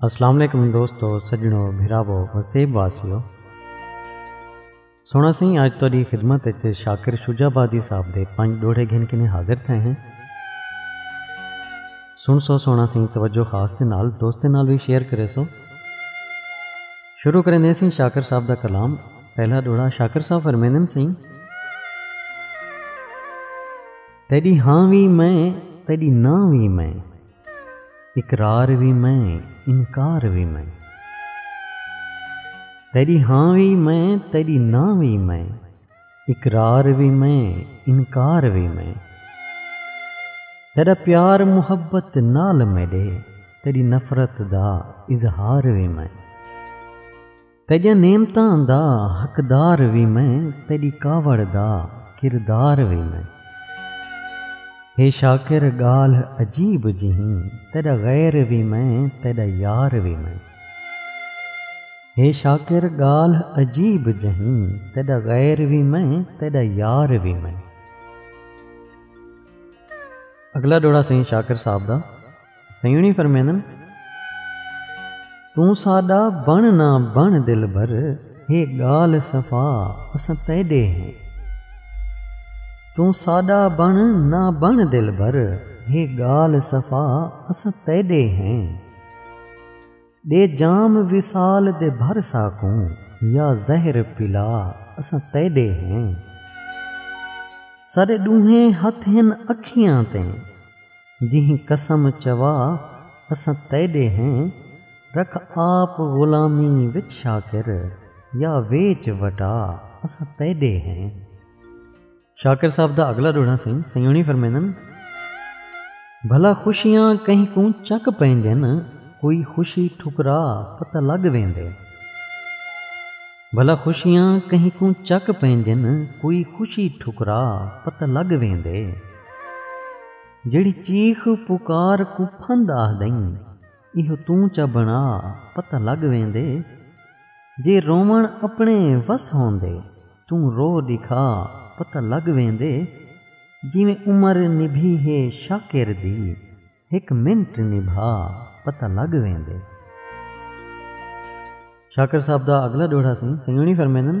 السلام علیکم دوستو سجنو بھراو وسیب واسیو سونا سی آج تاری خدمت اچھے شاکر شجا بادی صاحب دے پانچ ڈوڑے گھن کے حاضر تھے ہیں سن سو سونا سی توجہ خاص دے نال دوستے نال بھی شیئر کرے سو شروع کریں دے سی شاکر صاحب دا کلام پہلا ڈوڑا شاکر صاحب فرمیندن سی تیری ہاں وی میں تیری نہ وی میں اقرار وی میں انکار وی میں تیری ہاں وی میں تیری نہ وی میں اقرار وی میں انکار وی میں تیرا پیار محبت نال میڈے تیری نفرت دا اظہار وی میں تیڈیاں نعمتاں دا حقدار وی میں تیڈی کاوڑ دا کردار وی میں۔ ہے شاکر گالھ عجیب جہیں تیڈا غیر وی میں تیڈا یار وی میں۔ ہے شاکر گالھ عجیب جہیں تیڈا غیر وی میں تیڈا یار وی میں۔ اگلا ڈوڑا سئیں شاکر صاحب دا۔ سیوݨی فرمیندن توں ساݙا بݨ نہ بݨ دلبر ہے ڳالھ صفا اساں تیݙے ہیں توں ساݙا بݨ نہ بݨ دلبر ہے ڳالھ صفا اساں تیݙے ہیں ݙے جام وصال دے بھر ساکوں یا زہر پلا اساں تیݙے ہیں ساݙے ݙونہیں ہتھ ہن اکھیاں تے جہیں قسم چوا اساں تیݙے ہیں رکھ آپ غلامی وچ شاکر یا ویچ وٹا اساں تیݙے ہیں۔ شاکر صاحب دا اگلا ڈوڑا سائیں سیونی فرمیندن بھلا خوشیاں کہیں کوں چک پیندن کوئی خوشی ٹھکرا پتہ لگ ویندے بھلا خوشیاں کہیں کوں چک پیندن کوئی خوشی ٹھکرا پتہ لگ ویندے جڑی چیخ پکار کو پھند آہ دئیں ایہو توں چا بنا پتہ لگ ویندے جے رووݨ اپݨے وس ہوندے توں رو ݙکھا پتہ لڳ ویندے جیویں عمر نبھی ہے شاکر دی ہک منٹ نبھا پتہ لڳ ویندے۔ شاکر صاحب دا اڳلا ݙوہڑا سئیں سنگیونڑی فرمیندن۔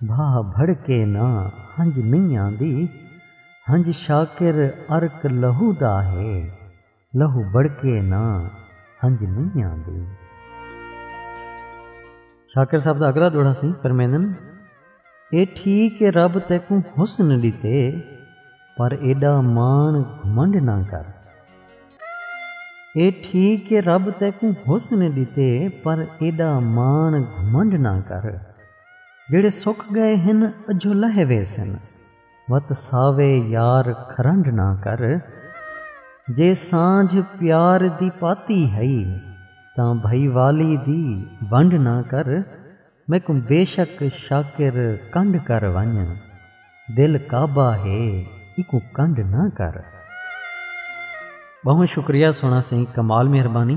بھا بھڑکے نہ ہنج میاں دی ہنج شاکر عرق لہو دا ہے لہو بھڑکے نہ ہنج میاں دی۔ شاکر صاحب دا اگلا ڈوہڑا سی فرمیندن اے ٹھیک اے رب تیکوں حسن ڈتے پر ایڈا مان گھمنڈ نہ کر اے ٹھیک اے رب تیکوں حسن ڈتے پر ایڈا مان گھمنڈ نہ کر۔ جیڑھے سک ڳئے ہن اجھو لہے ویسن وت ساوے یار کھرنڈ نہ کر جے سانجھ پیار دی پاتی ہئی تاں بھئی والی دی ونڈ نہ کر میکوں بیشک شاکر کنڈ کر ونج دل کعبہ ہے ایکوں کنڈ نہ کر۔ ٻہوں شکریہ سوہݨا سئیں کمال مہربانی۔